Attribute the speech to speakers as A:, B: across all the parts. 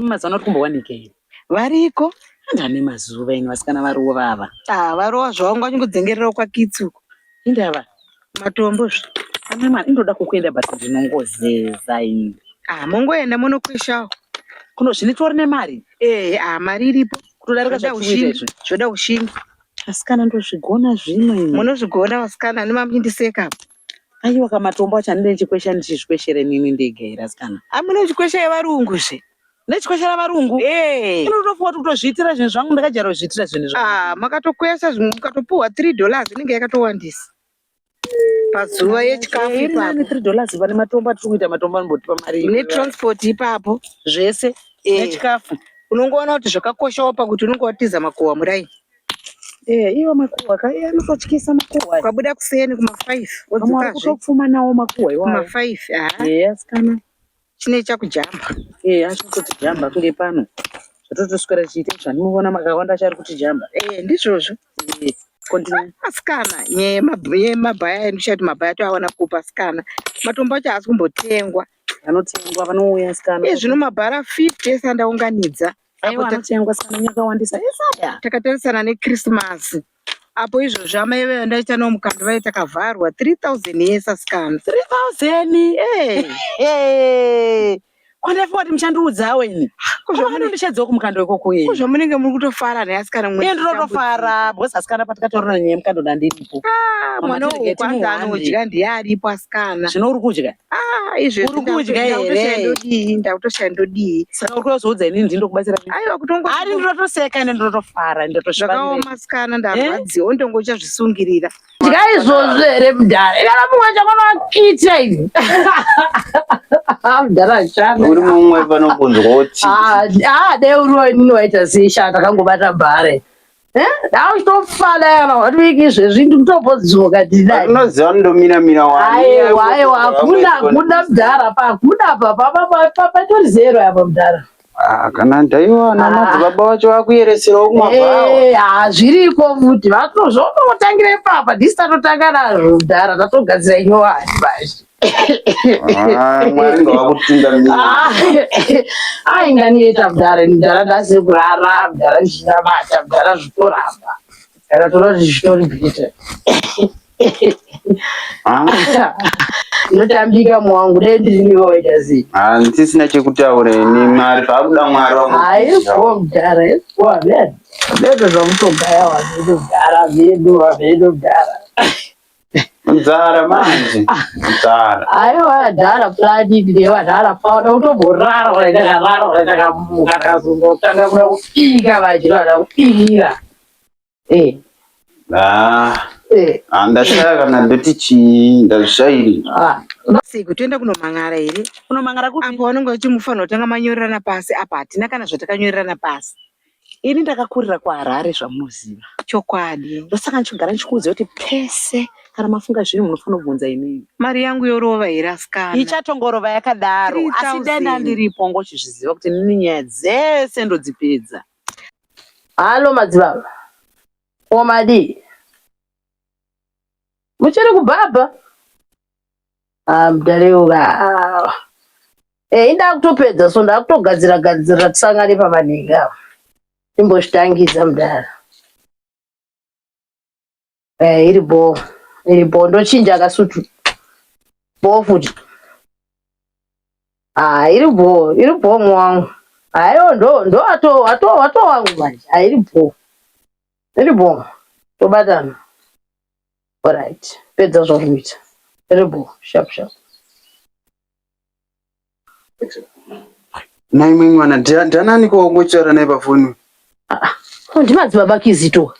A: mazuva vari kumbowanikei variko
B: ndane mazuva
A: ino vasikana varowa vava ah, varowa zvavo
B: ngavanyongudzengerera kwakitsi uko indava
A: Matombo
B: zve. Ana mwana
A: ndoda kukuenda but ndinongozeza ini. Ah, mongoenda
B: monokweshawo. Kuno zvinitori
A: nemari. Eh, ah, mari
B: iripo. Kutodarika Zvoda zvatiri
A: kuita ushingi. izvi. Zvoda
B: ushingi. Asikana
A: ndozvigona zvimwe ini. Munozvigona vasikana
B: nemamindiseka. Aiwa
A: kamatombo acho andine chikwesha ndichizvikweshere nini ndega here asikana. Amune chikwesha yevarungu
B: zve. nechikweshera
A: varungu eh. inotopuwa kutozviitira zvinhu zvangu ndakajara kuzviitira zvinhu zvangu ah, makatokwesa zvimwe
B: mukatopuwa three dollars inenge yakatowandisa pazuva yechikafu eh, ipapo three dollars
A: vane matombo atiri kuita matombo anobotipa mari netransport ipapo
B: zvese
A: eh. nechikafu unongoona kuti
B: zvakakoshawo pakuti unenge watiza makuhwa murai Eh,
A: iwo makuhwa ka iye anototyisa makuhwa kwabuda kuseni
B: kuma-five odzokazve kutopfumanawo
A: makuhwa iwayo kuma-five eya
B: sikana
A: chine
B: chakujamba eh achiri kuti
A: jamba kunge pano zvototoswera chiite zvamunoona makawanda achari kuti jamba eh ndizvozvo
B: eh, continue asikana yemabhaya endichati mabhaya toawana kupa asikana matombo acho haasi kumbotengwa vanotengwa
A: vanouya asikana e zvino mabhara 50
B: ese andaunganidza anotengwa
A: sikana nyakawandisa esaya takatarisana
B: nechristmas apo izvozvo amai vaya ndaita navo mukando vaye takavharwa 3000 yes asikana 3000 eh
A: kwandafiwa kuti muchandiudzawo ini kuzvamunondishadzawo kumukando ikoko iyi kuzvamunenge muri kutofara
B: naye asikana mwe ndinotofara
A: because asikana patikatorona nyaya mukando ndandiripo ah, mwana uyu
B: kwanza anodya ndiye aripo asikana zvino uri kudya
A: Ah, izvezvi Uri
B: kudya
A: ndakuto- ndakutoshaya here?
B: ndodii ndakutoshaya ndodii saka uri kuzoudza ini
A: ndini ndokubatsira nei? aiwa kutongo ari
B: ndinotoseka
A: ende ndinotofara ende ndotozvifarira zvakaoma
B: sikana ndarwadziwa wondonge uchazvisungirira dya izvozvo
C: here mudhara ikana mumwe chakonoakita ivi mudhara ashanda uri mumwe panokunzwa
D: kuti Ah, ah, dai
C: uriwo inini waita sei shaa takangobata bhare auchitofana eh? kana watoiki izvezvi ndikutopozivoka tinoziva
D: ndomira mira aiwa aiwa
C: hakuna hakuna mudhara pa hakuna pa patori zero apa mudhara ah, kana
D: ndaiwana ah. madzibaba vacho vakuyeresera umwavao eh, ah, zviriko futi
C: vatozvonotangira ipapa disi tatotanga nazvo mudhara tatogadzira inyowani bazi
D: Ah, mwari ngavakutungamira ah,
C: ainga niyeta mdara mdara ndasiri kurara mdara ndichinamata mdara zvitoramba kana tona zvitori bhite ah. ndotambika mwangu dai ndiri niwe waita sei handisina chekutaura
D: ini mwari zvakuda mwari waaiwo
C: mdara vedo zvamutogaya wavedo mdara vedo wavedo mdara
D: Mzara manje. Mzara. Ayo adala
C: plani ndiye wadala paona utomborara wala ndakarara wala ndakamuka ndakazongo tanga kuda kupika vachira wala kupira. Eh.
D: Ah. Eh. Ah, ndashaya kana ndoti chi ndashairi. Ah. Siku
B: tuenda kunomangara here? Kunomangara kupi? Apo
A: vanonga vachimufanira kutanga
B: manyorerana pasi apa hatina kana zvatakanyorerana pasi. Ini ndakakurira
A: kuHarare zvamunoziva. Chokwadi.
B: Ndosaka ndichigara ndichikuudza
A: kuti pese kana mafunga zvinhu munofanira kubvunza inini. Mari yangu yorova
B: here asikana? Ichatongorova
A: yakadaro. Asi dai ndandiripo ngochizviziva kuti nini nyaya dzese ndodzipedza.
C: Halo madzibaba. Ko madii? Muchiri kubhabha? Ah, mdare uyu ah. Eh, inda kutopedza so ndakutogadzira gadzira tisangane pavanenge ava. Timbozvitangidza mdara. Eh, iri bho. Iri bho ndochinja kasutu. Bho futi. Ah, iri bho, iri bho mwangu. Ayo ndo ndo ato ato ato wangu manje. Ah, iri bho. Iri bho. Tobatana. Alright, pedza zvauri kuita. Terrible, sharp sharp.
D: Nhai imwe mwana, ndia- ndianani ko ngochitaura naye pafoni? Ko
C: ndimadzibaba kizito.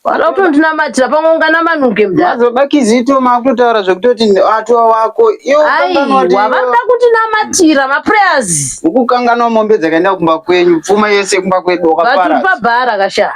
C: Wada kutondinamatira pamwe unganamanuke mdara. Madzibaba Kizito
D: maakutotaura zvekutoti atova wako. Iwo kanganwa kuti Aiwa, iwo-
C: vanoda kutinamatira maprayers. ukukanganwa mombe
D: dzakaenda kumba kwenyu pfuma yese kumba kwedu Vati wakapara pabhara kasha.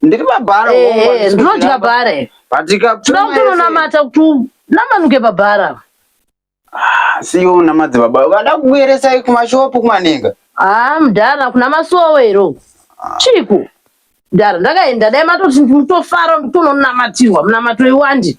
C: ndiri pabhara
D: Eh, ndinodya
C: bhara iri. patika Tinoda kuti unonamata kuti unamanuke pabhara apa.
D: siyo unamadzi baba vada kukuyeresai kumashopu kumanenga Ah, mdara
C: kuna masowe iro. Chiku. Mdara ndakaenda dai matoti mutofara kuti unonamatirwa munamato iwandi.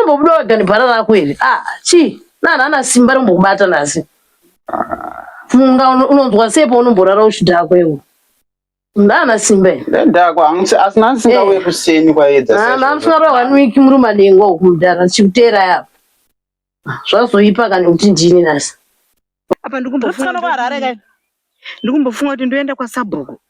C: Umbobuda wega nebhara rako here? Ah, chii? Nani ana simba rombokubata nhasi? Funga uno- unonzwa sei paunomborara uchidhakwa iwe? Ndana simba here? Ndadhakwa hangu se- asi
D: nhasi singauye Eh. kuseni kwaedza Ah, saizvozvo. mamswara one week
C: muri madengo uku mudhara chikuteera yapa. Zvazoipa kana kuti ndini nhasi. apa
B: ndikumbofuna kuharare kai ndikumbofunga kuti ndoenda kwasabhuku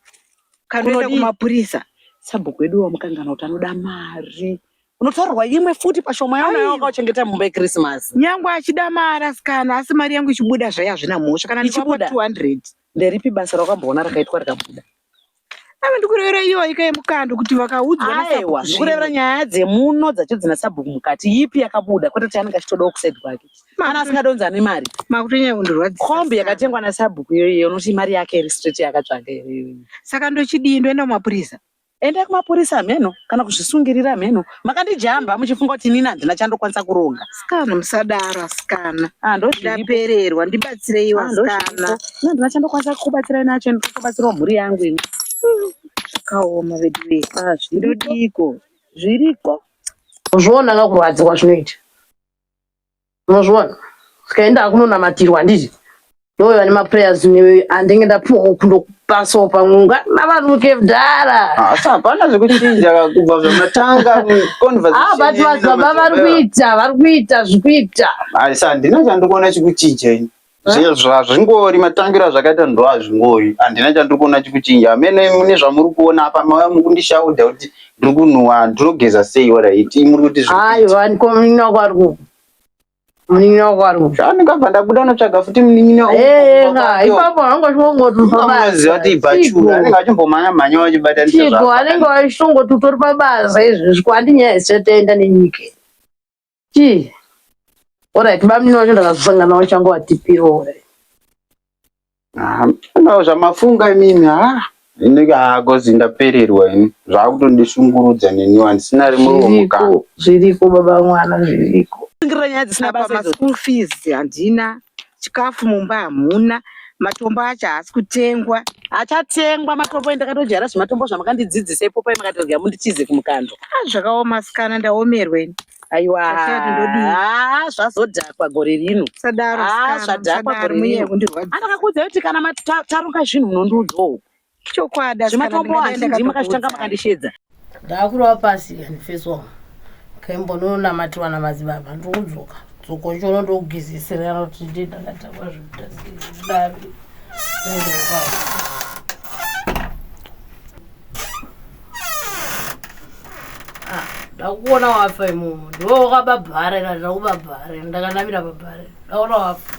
B: kanoenda kumapurisa sabhuku wedu
A: wamukanganwa kuti anoda mari unotorwa imwe futi pashoma yaona yawanga uchengeta mumba yekrisimasi nyangwe achida
B: mari asikana asi mari yangu ichibuda zvayo hazvina mhosva kana ndichibuda 200 nderipi basa
A: rawakamboona rakaitwa rikabuda ave
B: ndikurevera iyo waika yemukando kuti vakaudzwa aiwa ndikurevera
A: nyaya dzemuno dzacho dzina sabhuku mukati yipi yakabuda kwete kuti anenge achitodawo kusaid kwake mana asingadonza ane mari makutonyaya kundirwadzi
B: kombi yakatengwa
A: nasabhuku iyoiyo unoti mari yake iri straight yakatsvaga iri saka ndochidii
B: ndoenda kumapurisa enda kumapurisa
A: hameno kana kuzvisungirira hameno makandijamba muchifunga kuti inini handina chandokwanisa kuronga sikana musadaro
B: asikana ah, ndapererwa ndibatsirei ah, asikana handina chandokwanisa
A: kukubatsirai nacho ndikubatsirawo mhuri yangu ini zvakaoma
B: vedu vee ah, ndodiko
A: zviriko zvoonaka
C: kurwadziwa zvinoita unozviona tikaenda hakunonamatirwa handiti ndoyo vane maprayers newe andenge ndapuwa kundokupasawo pamwe unganavanuke mdara asi hapana
D: zvekuchinja kubva zvamatanga conversationbut
C: vadzibaba
D: vari
C: kuita vari kuita zvikuita asi handina
D: chandikuona chikuchinja ini zvazvingori matambiro azvakaita ndo azvingori handina chandiri kuona chikuchinja amene mune zvamuri kuona apa mava mukundishaudha kuti ndiri kunhuwa ndinogeza sei oraiti muri kuti zviaivanikomunini
C: wako ari kuku munin'ina wako ari kuku zvaandingabva ndabuda
D: notsvaga futi munin'ina eeha ipapo
C: hangochongotuaziva kuti
D: ibachura anenge achimbomhanya mhanya vachibataniko anenge vachitongoti
C: utori pabasa izvezvi kwandi nyaya dzisatoenda nenyika Chii? Alright, bamnini wacho ndakazosanga nawo changu atipiwo.
D: Ndau zvamafunga imimi ha inenge hakozi ndapererwa ini zvakutondishungurudza neniwo handisina rimwe romuka Zviriko, zviriko baba
C: mwana zviriko. Kusungira nyaya dzisina apa basa
A: idzo. maschool fees handina
B: chikafu mumba hamuna matombo acho haasi kutengwa achatengwa
A: matombo endakatojaira zvematombo zvamakandidzidzisa ipopai makatodya mundichize kumukando ah, zvakaoma sikana
B: ndaomerweni aiwa ah,
A: zvazodhakwa gore rino sadaro ah,
B: zvadhakwa gore rino
A: anakakudza kuti kana taronga zvinhu munondiudzawo Chokwadi asi
B: kana zvematombo
A: ndingadai hazvinzwi makazvitanga ndakatokudza.
C: makandishedza ndaakurova pasi and face wall kembo ndononamatiwa namadzibaba ndokudzoka dzoko chono ndokugezesera kuti ndi ndakatangwa zvekudaro Ah, ndakuona wafa imomo ndiwe wakababhara ira ndakubabhara ndakanamira babhara ndaona wafa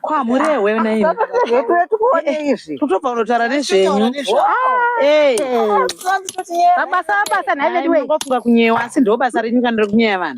B: kwamurewe
A: naitotobva
B: unotaura nezvenyu mabasa abasa nhaivediweofunga kunyewa asi
A: ndobasa renyu kana rekunyeya vanhu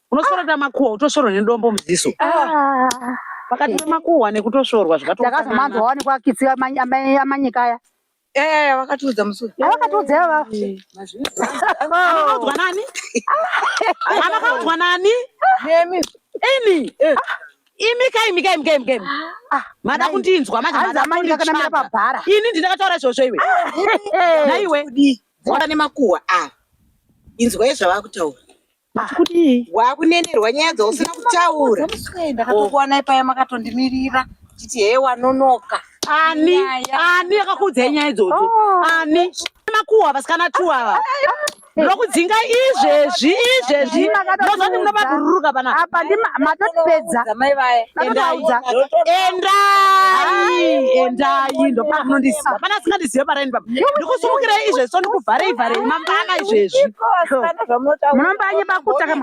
A: unosorota makuhwa utosoro nedombo muziso Ah.
B: vakatora
A: makuhwa
B: nekutosorwa ndakazomanzwa wani
A: kwakitsi amanyika
B: aya Eh, vakatiudza musi. avakatiudza ivava
C: zvakatoanaudzwa
A: nani avakaudzwa nani Nemi. ini imi kaimi kaimi kaimi kaimi mada kundinzwa manje hanzi mada amanyika akanamira kunditsvaga. pabhara
C: ini ndinakataura izvozvo
A: iwe naiwe Bvora
B: nemakuhwa ava. Inzwai zvavakutaura. kudii
A: wakunenerwa
B: nyaya dzausina kutaura ndakatokuwanai paya makatondimirira chiti hee wanonoka ani
A: ani akakuudzai nyaya idzodzo oh. ani makuhwa vasikana two ava ndokudzinga izvezvi izvezvi ndozoti munoba kururuka panapa
C: matotipedza endai
A: endai ndopamunondiziva pana asingandizive paraini papa ndikusimukira izvezvi so ndikuvharei vharei mangana izvezvi
C: munombanyiba kutaka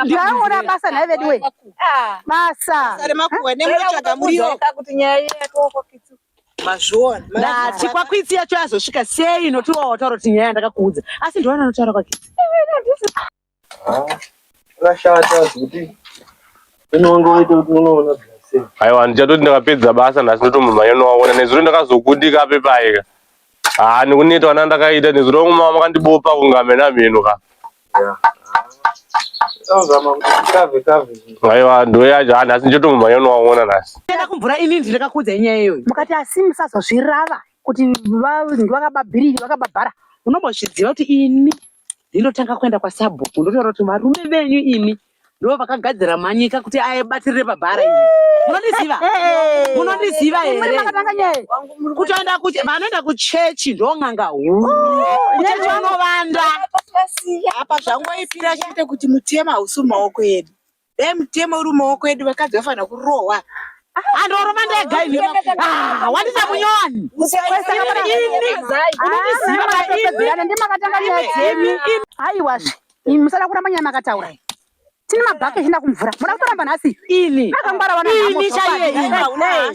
C: ndaaona basa nhai veduwe ah. basa remakuhwa
B: nemunotsvaga muriwo mazviona ndati kwakwitsi
A: yacho yazosvika sei notiwa wataura kuti nyaya yandakakuudza asi ndiwana anotaura kwakwitsi
E: Zvakashata zvekuti unonge waita kuti unoona aiwa ndichatoti
F: ndakapedza basa nhasi ndotomumhanya nowaona nezuro ndakazokundika ape paika haa ah, nekuneta wana ndakaita nezuro wangu mama makandibopa kunga mhena mheno ka aiwa ndo yacho haa ah, nhasi ndichatomumhanya nowaona nhasi enda kumvura ini
A: ndinakakuudzai nyaya iyoyo mukati asi
C: musazozvirava kuti vakababhiriri vakababhara unombozviziva
A: kuti ini ndinotanga kuenda kwasabhuku ndotaura kuti varume venyu imi ndo vakagadzira manyika kuti abatirire pabhara imi munondiziva munondiziva here kutoenda vanoenda kuchechi ndon'anga huru kuchechi vanovanda
B: apa zvangoipira chete kuti mutema hausi mumaoko edu dai mutemo uri mumaoko edu vakadzi vafanira kurohwa andorova
A: ndega ini ah, wandisa munyowani
C: ndimakatanga nyaya dzenyu haiwazve musada kuramba nyaya makataura tine mabhake echina kumvura muda kutoramba nhasi ini akangwara
A: wana